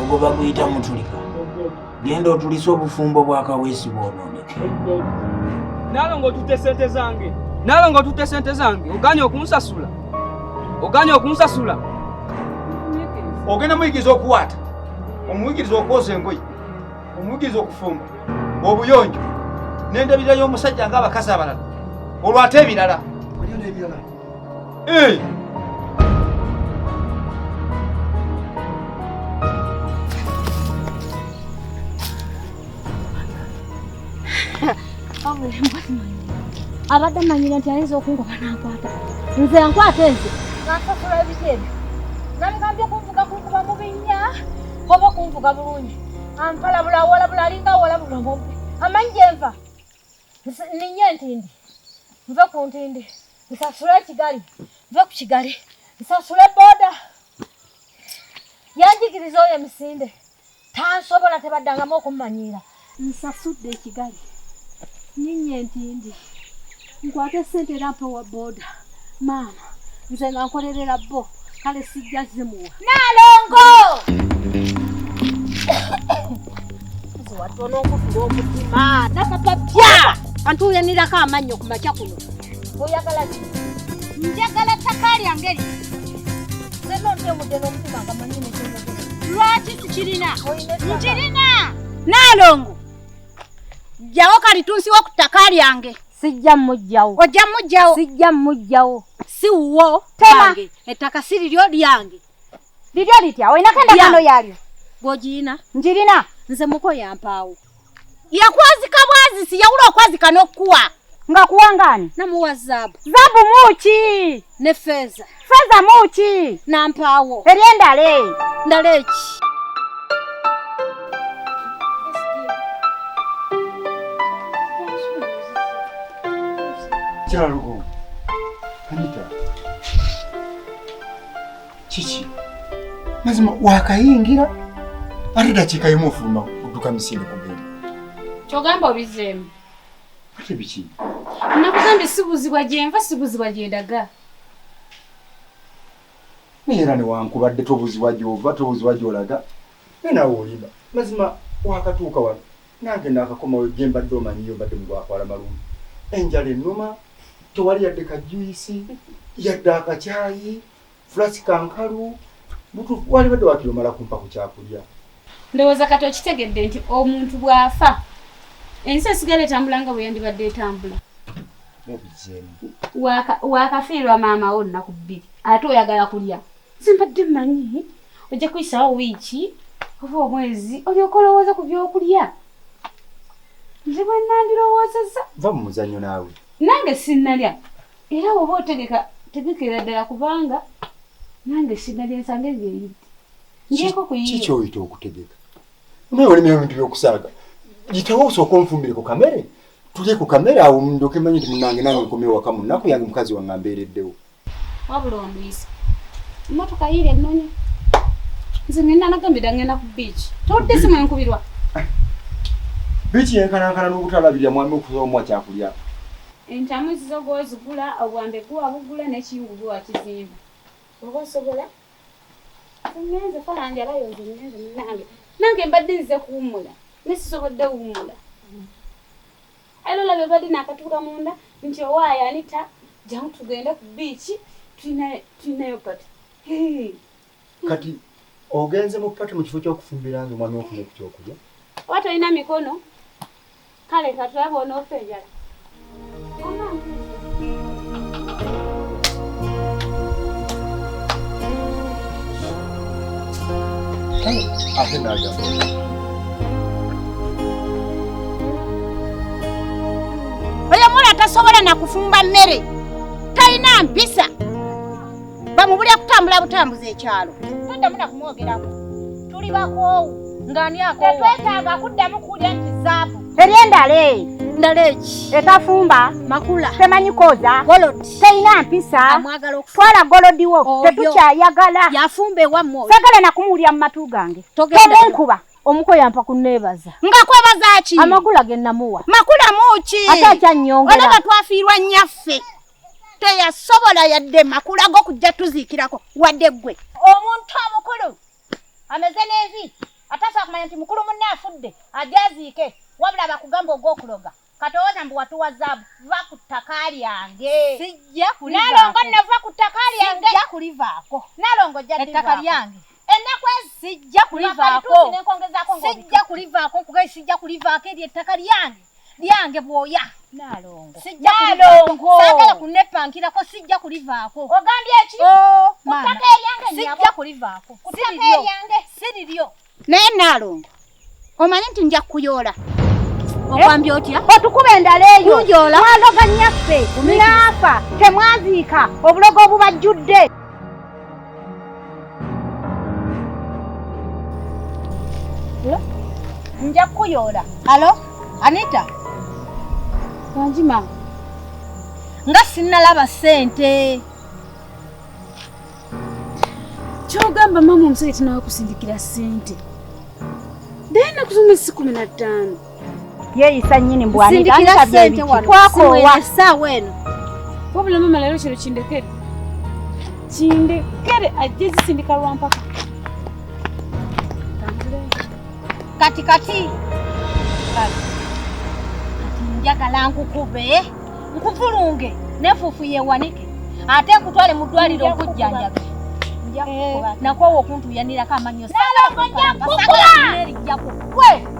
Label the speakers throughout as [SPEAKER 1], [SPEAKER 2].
[SPEAKER 1] ogwo baguyita mutulika genda otulise obufumbo bwa kaweesi bwononeka
[SPEAKER 2] nalonga otutte sente zange nalonga otutte sente zange oganye okunsasula oganye okunsasula
[SPEAKER 3] ogenda muyigiriza okuwaata omuyigiriza okwoza engoyi omuyigiriza okufumba obuyonjo nendabirira y'omusajja nga abakazi abalala olwate ebirala Hey!
[SPEAKER 4] abadde amanyira nti ayinza okungoba nankwata nze ankwata enze nasasula ebitendo nabigambye kunvuga kunkuba mu binnya oba okunvuga bulungi ampalabula awalabula alinga awalabula ngompe amanyi gyenva ninye entindi nve ku ntindi nsasule ekigali nve ku kigali nsasule boda yanjigiriza oyo emisinde tansobola tebaddangamu okummanyiira nsasudde ekigali ninye entindi nkwate sente era mpa owa boda maama nze nga nkolerera bo kale sijja zimuwa nalongo watono okufula omutima nakapa bya antuyanirako amannyo ku makya kuno oyagala ki njagala ttaka lyange li zenontemudde n'omutima nga manyini lwaki sikirina nkirina nalongo jjawo kalitunsiwo ku ttaka lyange sijja mujjawo ojja mujjawo sijja mujjawo si wuwo lyange ettaka si liryo lyange liryo litya olinako endagaano yalyo gwogiina ngirina nze muko yampaawo yakwazika bwazisi yawula okwazika n'okukuwa nga kuwangaani namuwa zaabu zaabu muki ne feeza Feza muki nampawo eri endale ndale ki
[SPEAKER 3] kyalugo anita kiki mazima wakayingira ate dakiika yemu ofuluma odduka misinde kugenda kyogamba
[SPEAKER 5] obizeemu ate
[SPEAKER 3] biki nakugambye
[SPEAKER 5] sibuzibwa gyenva sibuzibwa gyendaga
[SPEAKER 3] naye era newankubadde tobuzibwa gy'ova tobuzibwa gy'olaga naye naawe olimba mazima wakatuuka wano nange naakakomawo gye mbadde omanyiyo mbadde mu gwakwala malumu enjala ennuma tewali yadde ka juyisi yadde akakyayi fulasi kankalu butuufu walibadde wakiri omala kumpa ku kyakulya ndowooza kati
[SPEAKER 5] okitegedde nti omuntu bw'afa ensi esigala etambula nga bwe yandibadde etambula wakafiirwa maama wo nnaku bbiri ate oyagala kulya zimbadde mmanyi ojja kuyisawo wiiki oba omwezi olyoka olowooza ku byokulya nze bwe nandirowoozeza va mu muzannyo
[SPEAKER 3] naawe nange sinnalya
[SPEAKER 5] era woba otegeka tegekera ddala kubanga nange sinnalya ensange ngeyidde ngyeko kuyikikyoyita okutegeka
[SPEAKER 3] naye olimira bintu byokusaaga gitawo osooka onfumbire ku kamere tulye ku kamere awo ndoke manyi nti munange nange nkomye waka mu nnaku yange mukazi wange ambeereddewo wabula
[SPEAKER 5] onwiisa emmotoka yiira ennonyi nze nina nagambira ngenda ku biiki towulidde simu enkubirwa
[SPEAKER 3] biiki yenkanankana n'obutalabirira mwami okusoba omuwa kyakulya entamu
[SPEAKER 5] zizo gwozigula obwambe guwa bugula nekingu guwa kizimba oba osobola Ngenze kola nti abayonze ngenze munange nange mbadde nzize kuwummula naye sisobodde wummula era olabye badde nakatuuka munda nti owaayo anita jamu tugende ku biiki tulinayo pati
[SPEAKER 3] kati ogenze mu pati mu kifo kyokufumbira nze omwami ofuna ekukyokulya oba tolina
[SPEAKER 5] mikono Kale
[SPEAKER 3] katulabe onoofa enjala.
[SPEAKER 4] Ate n'agamba. oyo mwana tasobola nakufumba mmere talina mpisa bamubulira kutambula butambuza ekyalo toddamu na kumwogerako tuli bakoowu ng'ani akoowa tetwetaaga kuddamu kuwulira nti zaabu eri endala eyo ndaleeki etafumba makula temanyi koza teyina mpisa twala golodi wo tetukyayagala yafumba ewamwe sagala nakumuwulira mu matu gange togenkuba omuko yampa kunebaza nga kwebaza ki amakula ge namuwa makula muki ate akyanyongera olaba twafiirwa nnyaffe teyasobola yadde makula g'okujja tuziikirako wadde ggwe omuntu omukulu ameze n'envi atasobola kumanya nti mukulu munne afudde ajaziike wabula bakugamba ogw'okuloga katowooza mbu watuwa zaabu va ku ttaka lyange nalongo nava ku ttaka lyange kulivaako nalongo jattaka lyange ennaku ezi sijja kulivaako sijja kulivaako nkugae sijja kulivaako eryo ettaka lyange lyange bwoya nalongo sijja nalongo sagala kunepankirako sijja kulivaako ogambye ki o oh, mutaka eryange sijja kulivaako kutaka eryange siriryo naye nalongo omanyi nti nja kuyoola eh? okwambye otya otukuba endala eyo kuyoola mwaloga nyaffe naafa temwaziika obulogo obubajjudde nja kukuyoola alo anita
[SPEAKER 5] wangi maama
[SPEAKER 4] nga sinnalaba ssente
[SPEAKER 5] kyogamba maama omusajja tinawakusindikira ssente dayina kuzuma esi kumi na ttaano yeeyisa
[SPEAKER 4] nnyini mbwanitwakowa essaawa eno wabula mama
[SPEAKER 5] leero kino kindekere kindekere ajja zisindika lwampaka
[SPEAKER 4] kati kati kati njagala nkukube nkuvulunge nefuufu yewanike ate nkutwale mu ddwaliro okujjanjabe nakwowa okuntuyanirako amannyo nalongo njakukuba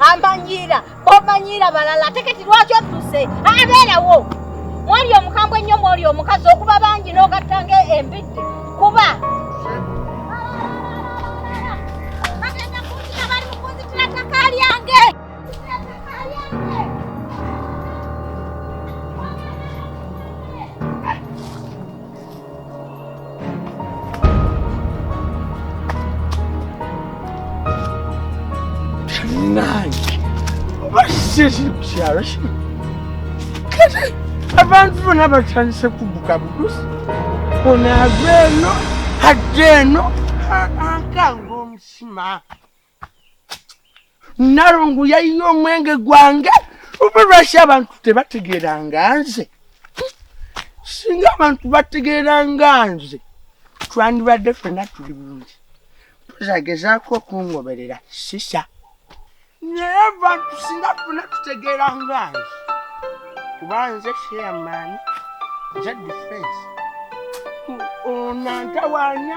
[SPEAKER 4] amanyiira bomanyiira balala ate kati lwaki odduse abeerawo mwali omukambwe ennyo mwoli omukazi okuba bangi n'ogattanga embidde kuba
[SPEAKER 1] abantu bona batandise kubuka budusi onava eno hadde eno akanga omusima nalongo yayiye omwenge gwange oba lwaki abantu tebategeranga nze singa abantu bategeranga nze twandibadde fena tuli bulungi tuzagezaako okungoberera sisa naye abantu singa fena tutegeranga nze kuba nze sheamaani nze defense onantawanya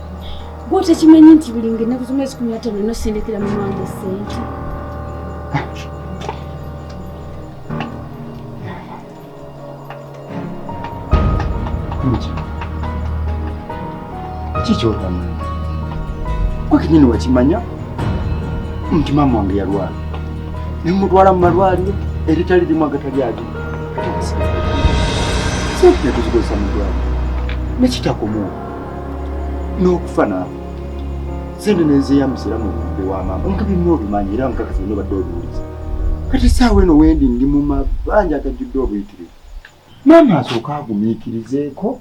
[SPEAKER 5] gwotekimanyi nti buli nga ennaku z'omwezi kumi natano olina osindikira mu mwange sente
[SPEAKER 3] kikyotamanyi kwe kenyini wakimanya nti maama wange yalwala nemutwala mu malwaliro eritali limu agatali agi sente netuzikozesa mu dwaliro nekitakomuwa n'okufa naawe sente nezeya musiramu obudde wa maama omuntu byonna obimanyi era nkakasa ino badde obiwuliza kati saawa eno wendi ndi mu mabanja agajjudde obuyitirivu maama asooka agumiikirizeeko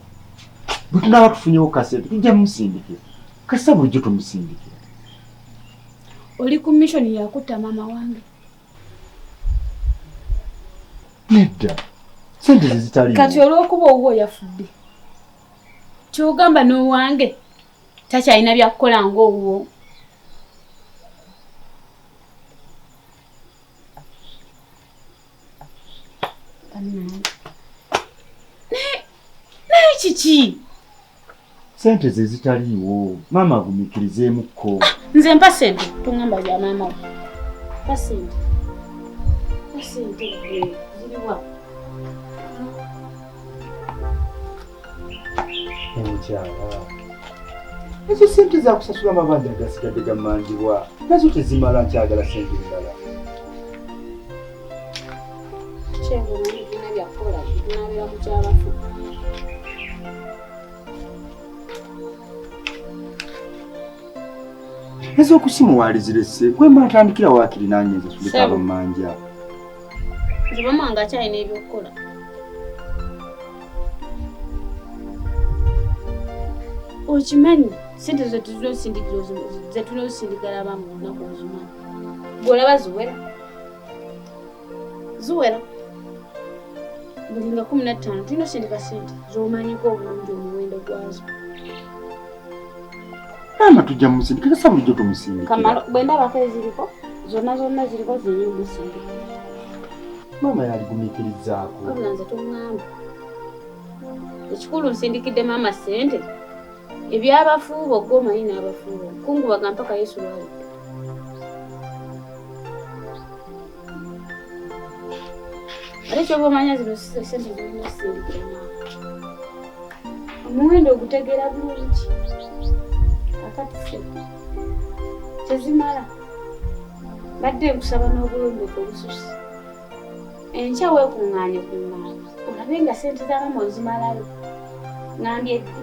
[SPEAKER 3] bwe tunaaba tufunyewo kasente tujja musindikira kasita bulijjo tumusindikira
[SPEAKER 5] oli ku mishoni yakutta maama wange
[SPEAKER 3] nedda sente zezitali kati olw'okuba owuwo
[SPEAKER 5] yafudde kyogamba n'owange takyalina byakukola ng'owuwo naye kiki
[SPEAKER 3] sente ze zitaliiwo maama agumikirizeemukko ah, nze mpa
[SPEAKER 5] sente tongamba bya maama mpa sente mpa sente ziriwa
[SPEAKER 3] ezo sente zakusasula amabanja agasigadde gamanjibwa nazo tezimala nkyagala sente endala ez'okusimuwalizirese kwemba ntandikira wakiri nanyenzasulikabamanja
[SPEAKER 5] nze maama wange akyalina ebyokukola okimanyi sente zetulina osindikira zetulina osindikira abamu olunaku okimanyi gwolaba ziwera ziwera buli nga kumi nattaano tulina osindika sente zomanyiko obulungi omuwendo gwazo
[SPEAKER 3] maama tujja mumusindika kasa bulijjo tumusindikira bwe ndabako
[SPEAKER 5] eziriko zonna zonna ziriko ziri musindika
[SPEAKER 3] maama yaligumikirizaako wabula nze tongamba
[SPEAKER 5] ekikulu nsindikidde maama ssente ebyabafuubo gwe omanyi n'abafuubo kungubaga mpaka yesu lwali omuwendo ogutegeera bulungi akatuse tezimala badde nkusaba n'obulombefu obususi enkya weekuŋŋaanye kuŋŋaana olabe nga sente za mama ozimalayo ngambye ddi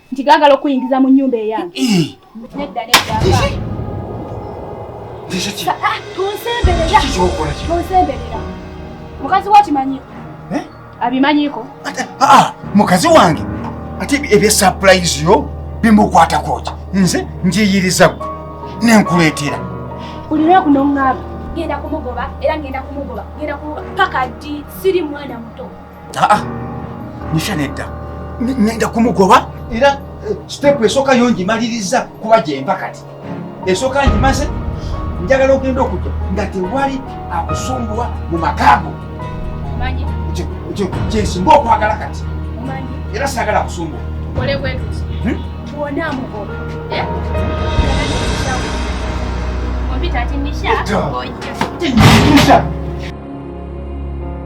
[SPEAKER 5] nti gaagala okuyingiza mu nnyumba eyange nedda nedda ah, tonsemberera mukazi wo akimanyiko eh? abimanyiko ah, ah,
[SPEAKER 3] mukazi wange ate ebya sapulayizi yo bimukwatako ki nze njiyiriza gwe nenkuleetera buli
[SPEAKER 5] lwaku noŋŋamba ngenda kumugoba era ngenda kumugoba ngenda kumugoba paka ddi siri mwana muto aa
[SPEAKER 3] nisha nedda nenda kumugoba era eh, sitepu esooka yo ngimaliriza kuba gyemba kati esooka ngimaze njagala ogenda okujja nga tewali akusumbuwa mu makaago kyensinga okwagala kati era
[SPEAKER 5] saagala akusumbuwa hmm? Nisha.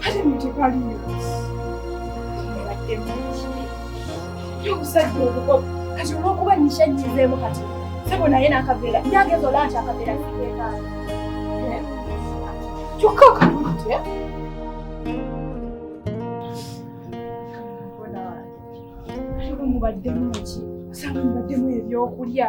[SPEAKER 5] Hata mtukali omusajja omukopi kati olwokuba nishanyizeemu kati sebo naye nakaveera yageza ola nti akaveera kigekaala kyokka okamutya mubaddemu ki osanga mubaddemu ebyokulya